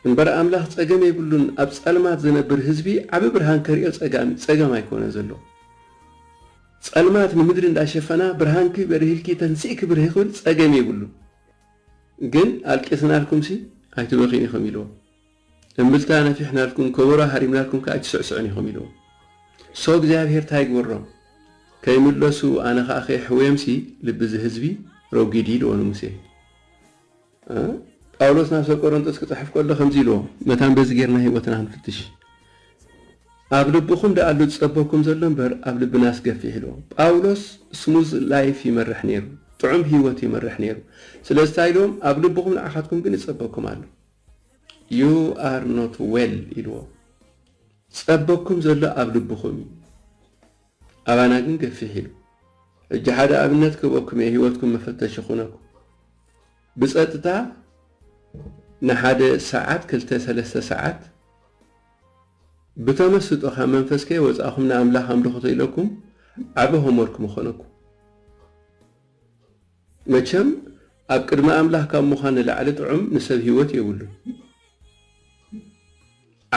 እምበር ኣምላክ ጸገም የብሉን ኣብ ጸልማት ዝነብር ህዝቢ ዓቢ ብርሃን ከሪኦ ጸጋም ጸገም ኣይኮነ ዘሎ ጸልማት ንምድሪ እንዳሸፈና ብርሃንኪ በሪህልኪ ተንሲእኪ ብርሂ ክብል ጸገም የብሉን ግን ኣልቂስናልኩምሲ ኣይትበኽዩን ኢኹም ኢልዎ። እምብልታ ነፊሕናልኩም ከበሮ ሃሪምናልኩም ከኣ ኣይትስዕስዑን ኢኹም ኢልዎ። so እግዚኣብሄር ታይ ይግበሮም ከይምለሱ ኣነ ከኣ ከየሕውየምሲ ልቢ እዚ ህዝቢ ረጒዲ ኢልዎ ንሙሴ። ጳውሎስ ናብ ሰብ ቆረንጦስ ክጽሕፍ ከሎ ከምዚ ኢልዎ መታን በዚ ጌርና ህይወትና ንፍትሽ። ኣብ ልብኹም ደኣ ኣሎ ዝጸበኩም ዘሎ እምበር ኣብ ልብናስ ገፊሕ ኢሉ። ጳውሎስ ስሙዝ ላይፍ ይመርሕ ነይሩ፣ ጥዑም ህይወት ይመርሕ ነይሩ። ስለዚ ታይ ኢልዎም ኣብ ልብኹም ንዓኻትኩም ግን ይጸበኩም ኣሎ። ዩ ኣር ኖት ዌል ኢልዎም። ዝጸበኩም ዘሎ ኣብ ልብኹም እዩ። ኣባና ግን ገፊሕ ኢሉ። ሕጂ ሓደ ኣብነት ክህበኩም እየ ህይወትኩም መፈተሺ ክኹነኩም። ብጸጥታ ንሓደ ሰዓት ክልተ ሰለስተ ሰዓት ብተመስጦ ካብ መንፈስ ከይወጻእኹም ንኣምላኽ ኣምልኹቶ ኢለኩም ዓቢ ሆምወርክ ምኾነኩም። መቸም ኣብ ቅድሚ ኣምላኽ ካብ ምዃን ንላዕሊ ጥዑም ንሰብ ህይወት የብሉን።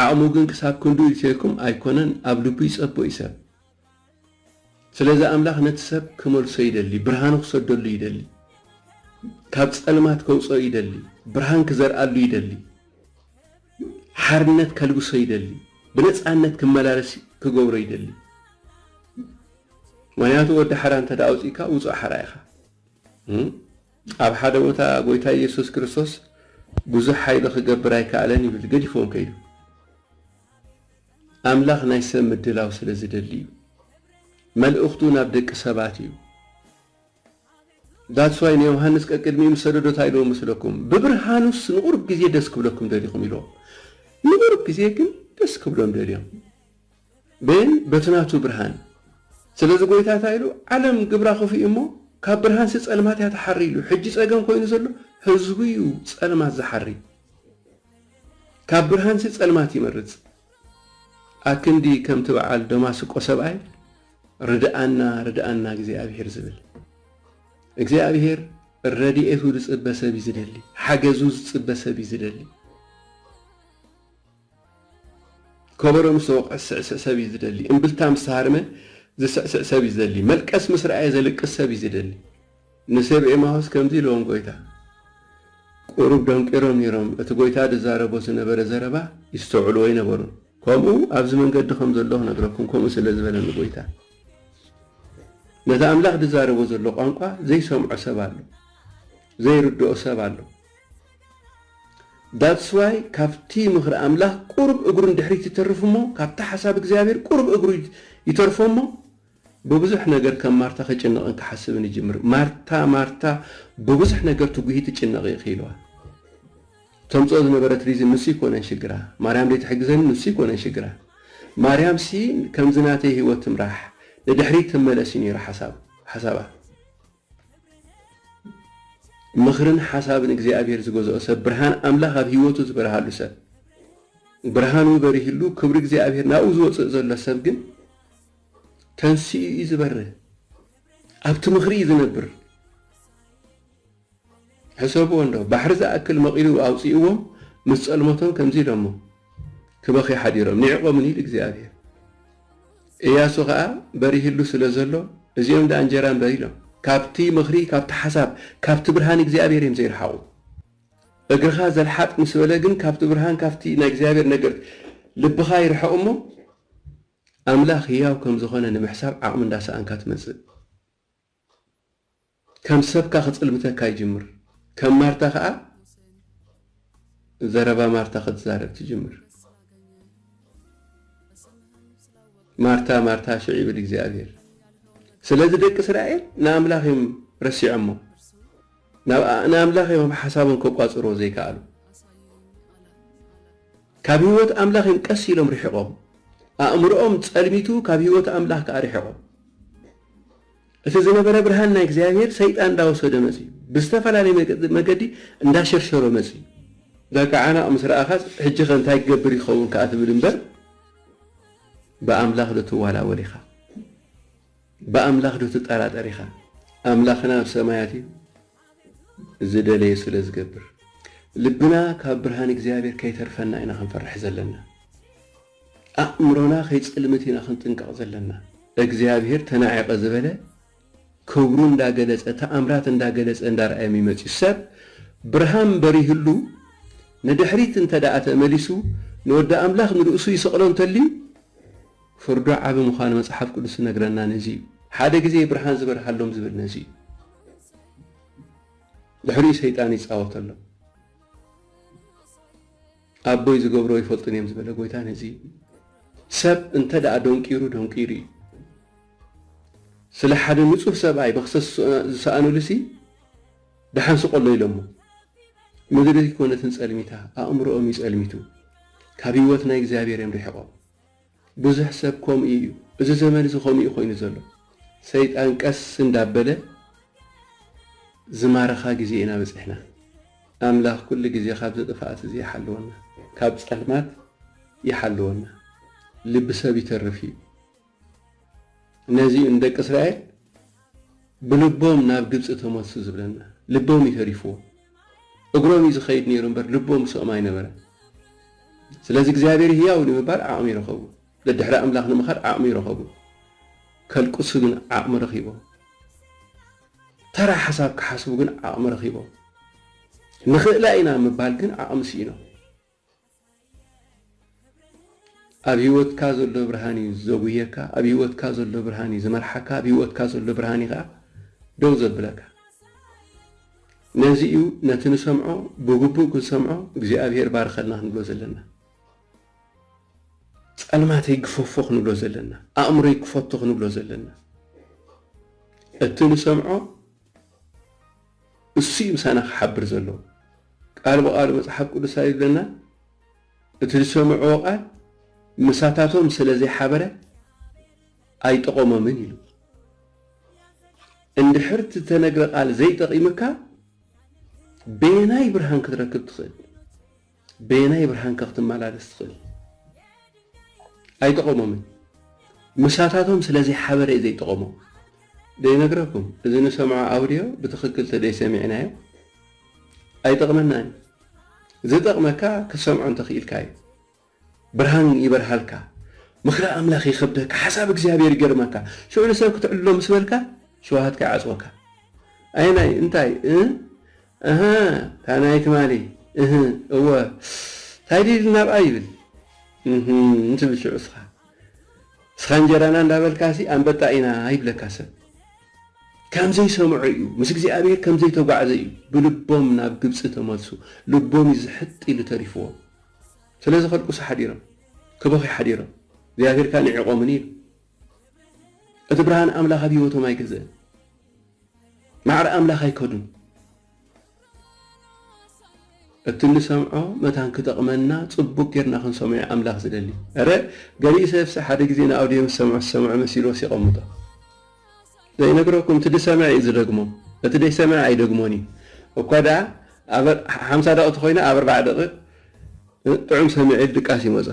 ዓቕሙ ግን ክሳብ ክንድኡ ኢልተይኩም ኣይኮነን ኣብ ልቡ ይጸቦ እዩ ሰብ። ስለዚ ኣምላኽ ነቲ ሰብ ክመልሶ ይደሊ፣ ብርሃኑ ክሰደሉ ይደሊ፣ ካብ ጸልማት ከውጽኦ ይደሊ፣ ብርሃን ክዘርኣሉ ይደሊ፣ ሓርነት ከልብሶ ይደሊ፣ ብነጻነት ክመላለስ ክገብሮ ይደሊ። ምክንያቱ ወዲ ሓራ እንተ ኣውጺእካ ውጹእ ሓራ ኢኻ። ኣብ ሓደ ቦታ ጎይታ ኢየሱስ ክርስቶስ ብዙሕ ሓይሎ ክገብር ኣይከኣለን ይብል ገዲፎም ከይዱ። ኣምላኽ ናይ ሰብ ምድላው ስለ ዝደሊ እዩ መልእኽቱ ናብ ደቂ ሰባት እዩ That's why ንዮሃንስ ቀቅድሚኡ ምስ ሰደዶ እንታይ ኢልዎ መስለኩም ብብርሃኑስ ንቑሩብ ግዜ ደስ ክብለኩም ደሊኹም ኢልዎ ንቑሩብ ግዜ ግን ደስ ክብሎም ደልዮም ቤን በቲ ናቱ ብርሃን ስለዚ ጎይታ እንታይ ኢሉ ዓለም ግብራ ክፉእ እሞ ካብ ብርሃንሲ ጸልማት እያ ትሓሪ ኢሉ ሕጂ ጸገም ኮይኑ ዘሎ ህዝቡ እዩ ጸልማት ዝሓሪ ካብ ብርሃንሲ ጸልማት ይመርጽ። ኣክንዲ ከምቲ በዓል ደማስቆ ሰብኣይ ርድኣና ርድኣና እግዚኣብሄር ዝብል። እግዚኣብሄር ረድኤቱ ዝጽበ ሰብ እዩ ዝደሊ፣ ሓገዙ ዝጽበ ሰብ እዩ ዝደሊ። ከበሮ ምስ ተወቕዐ ዝስዕስዕ ሰብ እዩ ዝደሊ። እምብልታ ምስ ተሃርመ ዝስዕስዕ ሰብ እዩ ዝደሊ። መልቀስ ምስ ረኣየ ዘልቅስ ሰብ እዩ ዝደሊ። ንሰብ ኤማሁስ ከምዚ ኢልዎም ጎይታ። ቁሩብ ደንቂሮም ነይሮም፣ እቲ ጎይታ ዝዛረቦ ዝነበረ ዘረባ ይስተውዕልዎ ኣይነበሩን። ከምኡ ኣብዚ መንገዲ ከም ዘለኹ ክነግረኩም ከምኡ ስለ ዝበለኒ ጎይታ። ነቲ ኣምላኽ ዝዛረቦ ዘሎ ቋንቋ ዘይሰምዖ ሰብ ኣሎ። ዘይርድኦ ሰብ ኣሎ። That's why ካብቲ ምኽሪ ኣምላኽ ቁሩብ እግሩ ንድሕሪት ይተርፍ እሞ ካብቲ ሓሳብ እግዚኣብሔር ቁሩብ እግሩ ይተርፎ እሞ ብብዙሕ ነገር ከም ማርታ ክጭነቕን ክሓስብን ይጅምር ማርታ ማርታ ብብዙሕ ነገር ትጉሂ ትጭነቕ ኢኺ ኢልዋ ተምጽኦ ዝነበረት ሪዝን ንሱ ይኮነን ሽግራ ማርያም ዘይትሕግዘኒ ንሱ ይኮነን ሽግራ ማርያም ሲ ከምዚ ናተይ ህይወት ትምራሕ ንድሕሪት ትመለስ እዩ ነይሩ ሓሳብ ሓሳባ ምኽርን ሓሳብን እግዚኣብሄር ዝገዝኦ ሰብ ብርሃን ኣምላኽ ኣብ ህይወቱ ዝበርሃሉ ሰብ ብርሃኑ በሪህሉ ክብሪ እግዚኣብሄር ናብኡ ዝወፅእ ዘሎ ሰብ ግን ተንስኡ እዩ ዝበርህ ኣብቲ ምኽሪ እዩ ዝነብር ሕሰብዎ እንዶ ባሕሪ ዝኣክል መቒሉ ኣውጺእዎም ምስ ጸልመቶም ከምዚ ኢሎሞ ክበኽዩ ሓዲሮም ኒዒቖምን ኢሉ እግዚኣብሄር። እያሱ ኸኣ በሪህሉ ስለ ዘሎ እዚኦም ደኣ እንጀራ እምበር ኢሎም ካብቲ ምኽሪ ካብቲ ሓሳብ ካብቲ ብርሃን እግዚኣብሄር እዮም ዘይረሓቑ። እግርኻ ዘልሓጥ ምስ በለ ግን ካብቲ ብርሃን ካብቲ ናይ እግዚኣብሄር ነገር ልብኻ ይርሕቕ እሞ ኣምላኽ ህያው ከም ዝኾነ ንምሕሳብ ዓቕሚ እንዳሰኣንካ ትመጽእ። ከም ሰብካ ክጽልምተካ ይጅምር ከም ማርታ ከኣ ዘረባ ማርታ ክትዛረብ ትጅምር ማርታ ማርታ ሽዕ ይብል እግዚኣብሔር ስለዚ ደቂ እስራኤል ንኣምላኽ እዮም ረሲዖሞ ንኣምላኽ እዮም ኣብ ሓሳቦም ከቋጽርዎ ዘይከኣሉ ካብ ህይወት ኣምላኽ እዮም ቀስ ኢሎም ርሒቖም ኣእምሮኦም ጸልሚቱ ካብ ህይወት ኣምላኽ ከዓ ርሒቖም እቲ ዝነበረ ብርሃን ናይ እግዚኣብሄር ሰይጣን እንዳወሰዶ መጺኡ ብዝተፈላለየ መገዲ እንዳሸርሸሮ መጺኡ በቃ ዓናቕ ምስ ረኣኻስ ሕጂኸ እንታይ ክገብር ይኸውን ከኣ ትብል እምበር ብኣምላኽ ዶ ትዋላወል ኢኻ ብኣምላኽ ዶ ትጠራጠር ኢኻ ኣምላኽና ኣብ ሰማያት እዩ ዝደለዮ ስለ ዝገብር ልብና ካብ ብርሃን እግዚኣብሔር ከይተርፈና ኢና ክንፈርሕ ዘለና ኣእምሮና ከይጽልምት ኢና ክንጥንቀቅ ዘለና። እግዚኣብሔር ተናዒቀ ዝበለ ክብሩ እንዳ ገለጸ ተኣምራት እንዳ ገለጸ እንዳ ርኣየ ሚመጽዩ ሰብ ብርሃን በሪህሉ ንድሕሪት እንተ ድኣ ተመሊሱ ንወዲ ኣምላኽ ንርእሱ ይሰቅሎ እንተልዩ ፍርዱ ዓቢ ምዃኑ መጽሓፍ ቅዱስ ዝነግረና ነዚ እዩ። ሓደ ግዜ ብርሃን ዝበርሃሎም ዝብል ነዚ እዩ። ድሕሪኡ ሰይጣን ይጻወተሎም። ኣቦይ ዝገብሮ ኣይፈልጡን እዮም ዝበለ ጎይታ ነዚ እዩ። ሰብ እንተ ደኣ ደንቂሩ ደንቂሩ እዩ። ስለ ሓደ ንጹህ ሰብኣይ መኽሰስ ዝሰኣኑሉሲ ደሓን ስቐሎ ኢሎሞ። ምድሪ ኮነትን ጸልሚታ፣ ኣእምሮኦም እዩ ጸልሚቱ። ካብ ህይወት ናይ እግዚኣብሔር እዮም ርሒቖም። ብዙሕ ሰብ ከምኡ እዩ እዚ ዘመን እዚ ከምኡ እዩ ኮይኑ ዘሎ ሰይጣን ቀስ እንዳበለ ዝማርኻ ግዜ ኢና በጺሕና ኣምላኽ ኩሉ ግዜ ካብዚ ጥፍኣት እዚ ይሓልወና ካብ ጸልማት ይሓልወና ልቢ ሰብ ይተርፍ እዩ ነዚ እዩ ንደቂ እስራኤል ብልቦም ናብ ግብጺ ተመልሱ ዝብለና ልቦም እዩ ተሪፍዎ እግሮም እዩ ዝኸይድ ነይሩ እምበር ልቦም ምስኦም ኣይነበረን። ስለዚ እግዚኣብሔር ህያው ንምባል ዓቕሚ ረኸቡ። ደድሕሪ ኣምላኽ ንምኻድ ዓቕሚ ረኸቡ። ከልቅሱ ግን ዓቕሚ ረኺቦም። ተራ ሓሳብ ክሓስቡ ግን ዓቕሚ ረኺቦም። ንኽእላ ኢና ምባል ግን ዓቕሚ ስኢኖም። ኣብ ሂወትካ ዘሎ ብርሃን እዩ ዘጉህየካ ኣብ ሂወትካ ዘሎ ብርሃን እዩ ዝመርሓካ ኣብ ሂወትካ ዘሎ ብርሃን እዩ ከኣ ደው ዘብለካ ነዚ እዩ ነቲ ንሰምዖ ብግቡእ ክንሰምዖ እግዚኣብሄር ባርኸልና ክንብሎ ዘለና ጸልማተይ ግፈፎ ክንብሎ ዘለና ኣእምሮይ ክፈቶ ክንብሎ ዘለና እቲ ንሰምዖ እሱ እዩ ምሳና ክሓብር ዘለዎ። ቃል ብቓሉ መጽሓፍ ቅዱስ እንታይ ይብለና? እቲ ዝሰምዕዎ ቃል ምሳታቶም ስለ ዘይሓበረ ኣይጠቐሞምን ኢሉ። እንድሕር እቲ እተነግረ ቃል ዘይጠቒምካ በየናይ ብርሃን ክትረክብ ትኽእል? በየናይ ብርሃንከ ክትመላለስ ትኽእል? ኣይጠቐሞምን። ምሳታቶም ስለዘይሓበረ እዩ ዘይጠቐሞም። ዘይነግረኩም እዚ ንሰምዖ ኣውድዮ ብትኽክል ተደይሰሚዕናዮ ኣይጠቕመናን እዩ። ዝጠቕመካ ክትሰምዖ እንተኽኢልካ እዩ። ብርሃን ይበርሃልካ። ምኽሪ ኣምላኽ ይኸብደካ። ሓሳብ እግዚኣብሔር ይገርመካ። ሽዑ ንሰብ ክትዕልሎ ምስ በልካ ሽውሃትካ ይዓጽወካ። ኣየናይ እንታይ እ እህ እታ ናይ ትማሊ እህ እወ ታይ ድዩ ኢሉ ናብኣ ይብል እህም ትብል ሽዑ እስኻ እስኻ እንጀራና እንዳበልካሲ ኣንበጣ ኢና ይብለካ ሰብ ከም ዘይሰምዖ እዩ ምስ እግዚኣብሔር ከም ዘይተጓዕዘ እዩ ብልቦም ናብ ግብፂ ተመልሱ ልቦም እዩ ዝሕጥ ኢሉ ተሪፍዎም ስለዚ ከልቅሱ ሓዲሮም ክበኽዩ ሓዲሮም እግዚኣብሔር ከዓ ንዒቖምኒ ኢሉ እቲ ብርሃን ኣምላኽ ኣብ ህይወቶም ኣይገዘእን። ማዕረ ኣምላኽ ኣይከዱን። እቲ እንሰምዖ መታን ክጠቕመና ጽቡቅ ጌርና ክንሰምዖ እዩ ኣምላኽ ዝደሊ። እረ ገሊኡ ሰብሲ ሓደ ግዜ ንኣውድዮ ምስ ሰምዖ ዝሰምዖ መሲልዎስ የቐምጦ። ዘይነግረኩም እቲ ዝሰምዐ እዩ ዝደግሞ እቲ ዘይሰምዐ ኣይደግሞን እዩ። እኳ ደኣ ኣብ ሓምሳ ደቕቲ ኮይና ኣብ ኣርባዓ ደቒቕ ጥዑም ሰሚዑ ድቃስ ይመጾ።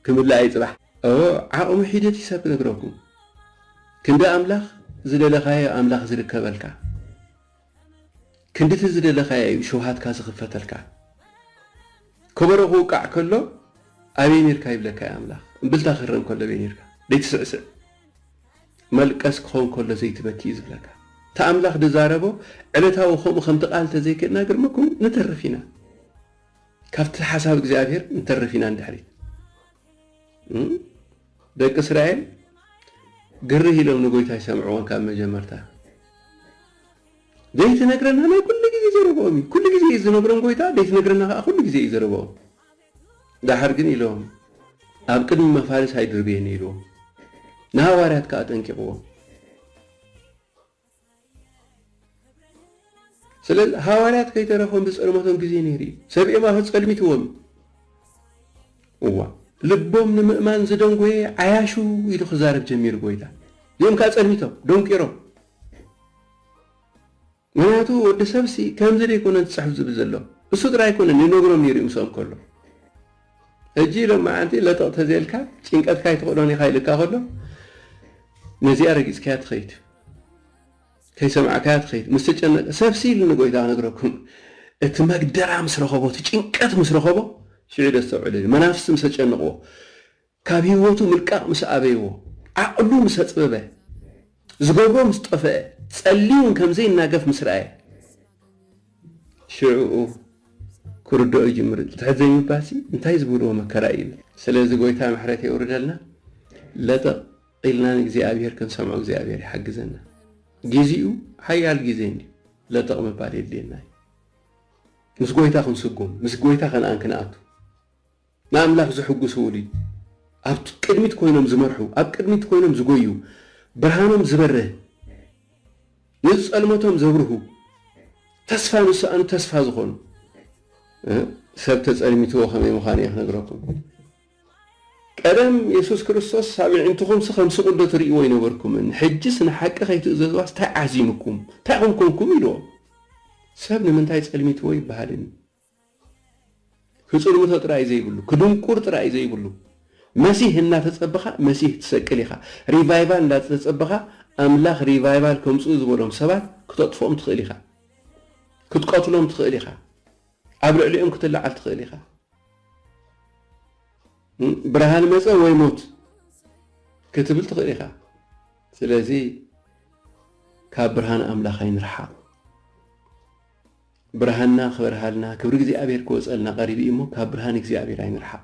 ክምልኣ እዩ ጽባሕ እወ ዓቅሚ ሒደት ይሰብ ክነግረኩም ክንዲ ኣምላኽ ዝደለካዮ ኣምላኽ ዝርከበልካ ክንድቲ ዝደለካዮ እዩ ሽውሃትካ ዝክፈተልካ ከበሮ ክውቃዕ ከሎ ኣበይ ኔርካ ይብለካ እዩ ኣምላኽ እምብልታ ክህረም ከሎ ኣበይ ኔርካ ደይትስዕስዕ መልቀስ ክኾን ከሎ ዘይትበኪ እዩ ዝብለካ እቲ ኣምላኽ ድዛረቦ ዕለታዊ ከምኡ ከምቲ ቃል ተዘይክእና ግርመኩም ንተርፍ ኢና። ካብቲ ሓሳብ እግዚኣብሔር ንተርፍ ኢና ንድሕሪት ደቂ እስራኤል ግርህ ኢሎም ንጎይታ ይሰምዕዎን ካብ መጀመርታ ዘይትነግረና ናይ ኩሉ ግዜ ዘረበኦም እዩ ኩሉ ግዜ እዩ ዝነግሮም ጎይታ ዘይትነግረና ከዓ ኩሉ ግዜ እዩ ዘረበኦም ዳሓር ግን ኢሎም ኣብ ቅድሚ መፋልስ ኣይድርበየኒ ኢልዎም ንሃዋርያት ከዓ ኣጠንቂቕዎም ስለል ሃዋርያት ከይተረፎም ዝጸልመቶም ግዜ ነይሩ እዩ። ሰብ እዮም ኣፍ ጸልሚትዎም እዩ። እዋ ልቦም ንምእማን ዝደንጎየ ዓያሹ ኢሉ ክዛረብ ጀሚሩ ጎይታ። እዚኦም ከኣ ጸልሚቶም፣ ደንቂሮም። ምክንያቱ ወዲ ሰብሲ ከምዚ ደይኮነ ዝጽሕፍ ዝብል ዘሎ። እሱ ጥራይ ኣይኮነን ይነግሮም ነይሩ እዩ ምስኦም ከሎ። ሕጂ ሎማዓንቲ ለጠቕ ተዘይልካ ጭንቀትካ ኣይትኽእሎን ኢኻ ኢልካ ከሎ ነዚኣ ረጊጽካያ ትኸይድ ከይሰማዕካያ ትኸይድ ምስ ተጨነቀ ሰብሲ ኢሉ ንጎይታ ክነግረኩም እቲ መግደራ ምስ ረኸቦ እቲ ጭንቀት ምስ ረኸቦ ሽዑ ደስተውዕሉ ኢሉ መናፍስቲ ምስ ተጨንቕዎ ካብ ህይወቱ ምልቃቕ ምስ ኣበይዎ ዓቕሉ ምስ ኣጽበበ ዝገብሮ ምስ ጠፈአ ጸልዩ እውን ከምዘይናገፍ ምስ ረኣየ ሽዕኡ ክርድኦ ይጅምር እቲ ትሕት ዘይምባልሲ እንታይ ዝብልዎ መከራ እዩ ይብል ስለዚ ጎይታ ምሕረት የውርደልና ለጠቅ ኢልና ንእግዚኣብሔር ክንሰምዖ እግዚኣብሔር ይሓግዘና ጊዚኡ ሓያል ጊዜ እንድዩ ለጠቅ ምባል የድልየና እዩ ምስ ጎይታ ክንስጉም ምስ ጎይታ ከነኣን ክንኣቱ ንኣምላኽ ዘሕጉስዉሉ እዩ። ኣብ ቅድሚት ኮይኖም ዝመርሑ፣ ኣብ ቅድሚት ኮይኖም ዝጎዩ፣ ብርሃኖም ዝበርህ፣ ንዝጸልመቶም ዘብርሁ፣ ተስፋ ንዝሰኣኑ ተስፋ ዝኾኑ። ሰብ ተጸልሚትዎ ከመይ ምዃኑ እየ ክነግረኩም። ቀደም የሱስ ክርስቶስ ሳብ ኣዒንትኹምሲ ከም ስቕዶ ትርእይዎ ኣይነበርኩምን፣ ሕጅስ ንሓቂ ከይትእዘዝዋስ ታይ ዓዚሙኩም፣ ታይ ኾንኮንኩም ኢልዎም። ሰብ ንምንታይ ጸልሚትዎ ይበሃልን እዩ። ክጽልምቶ ጥራይ ዘይብሉ ክድንቁር ጥራይ ዘይብሉ መሲህ እናተጸበኻ መሲህ ትሰቅል ኢኻ ሪቫይቫል እንዳተጸበኻ ኣምላኽ ሪቫይቫል ከምጽኡ ዝበሎም ሰባት ክተጥፍኦም ትኽእል ኢኻ ክትቀትሎም ትኽእል ኢኻ ኣብ ልዕሊኦም ክትለዓል ትኽእል ኢኻ ብርሃን መጸ ወይ ሞት ክትብል ትኽእል ኢኻ ስለዚ ካብ ብርሃን ኣምላኽ ኣይንርሓቕ ብርሃንና ክበርሃልና ክብሪ እግዚኣብሔር ክወፀልና ቀሪቡ እዩ እሞ ካብ ብርሃን እግዚኣብሔር ኣይንርሓቅ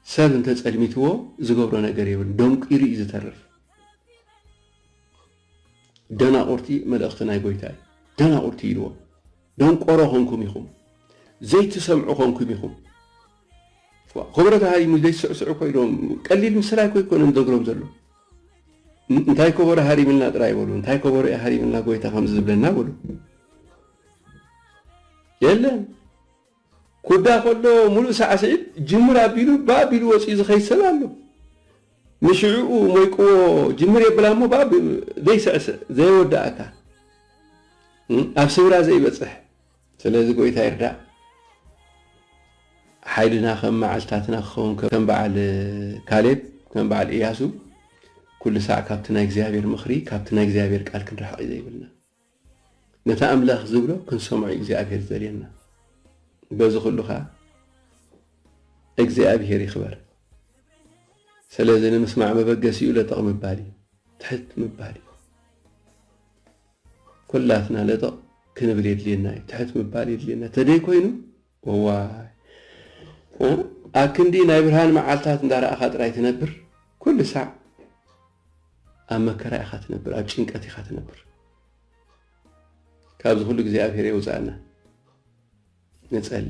ሰብ እንተ ፀልሚትዎ ዝገብሮ ነገር የብሉን ደንቂሩ እዩ ዝተርፍ ደናቁርቲ መልእክቲ ናይ ጎይታ እዩ ደናቁርቲ ኢልዎ ደንቆሮ ኮንኩም ኢኹም ዘይትሰምዑ ኮንኩም ኢኹም ክብረት ሃሪሙ ዘይስዕስዑ ኮይኖም ቀሊል ምስላ ኣይኮይኮነን ዘግሮም ዘሎ እንታይ ከበሮ ሃሪምልና ጥራይ በሉ እንታይ ከበሮ እዩ ሃሪምልና ጎይታ ከምዚ ዝብለና በሉ የለን ኩዳ ከሎ ሙሉእ ሳዕስዒት ጅምር ኣቢሉ ብኣቢሉ ወፂኡ ዝኸይድ ሰብ ኣሎ ንሽዕኡ ሞይቅዎ ጅምር የብላ እሞ ብኣ ዘይስዕስዕ ዘየወዳእካ ኣብ ስብራ ዘይበፅሕ ስለዚ ጎይታ ይርዳእ ሓይልና ከም መዓልትታትና ክኸውን ከም በዓል ካሌብ ከም በዓል ኢያሱ ኩሉ ሳዕ ካብቲ ናይ እግዚኣብሔር ምኽሪ ካብቲ ናይ እግዚኣብሔር ቃል ክንርሕቕ እዩ ዘይብልና ነታ ኣምላኽ ዝብሎ ክንሰምዖ እዩ እግዚኣብሔር ዝደልየና በዚ ኩሉ ከዓ እግዚኣብሔር ይኽበር ስለዚ ንምስማዕ መበገሲኡ ለጠቕ ምባል እዩ ትሕት ምባል እዩ ኩላትና ለጠቕ ክንብል የድልየና እዩ፣ ትሕት ምባል የድልየና ተደይ ኮይኑ እዋይ ኣክንዲ ናይ ብርሃን መዓልታት እንዳረኣኻ ጥራይ ትነብር ኩሉ ሳዕ ኣብ መከራ ኢኻ ትነብር፣ ኣብ ጭንቀት ኢኻ ትነብር። ካብዚ ኩሉ እግዚኣብሔር የውፃእና ንፀሊ።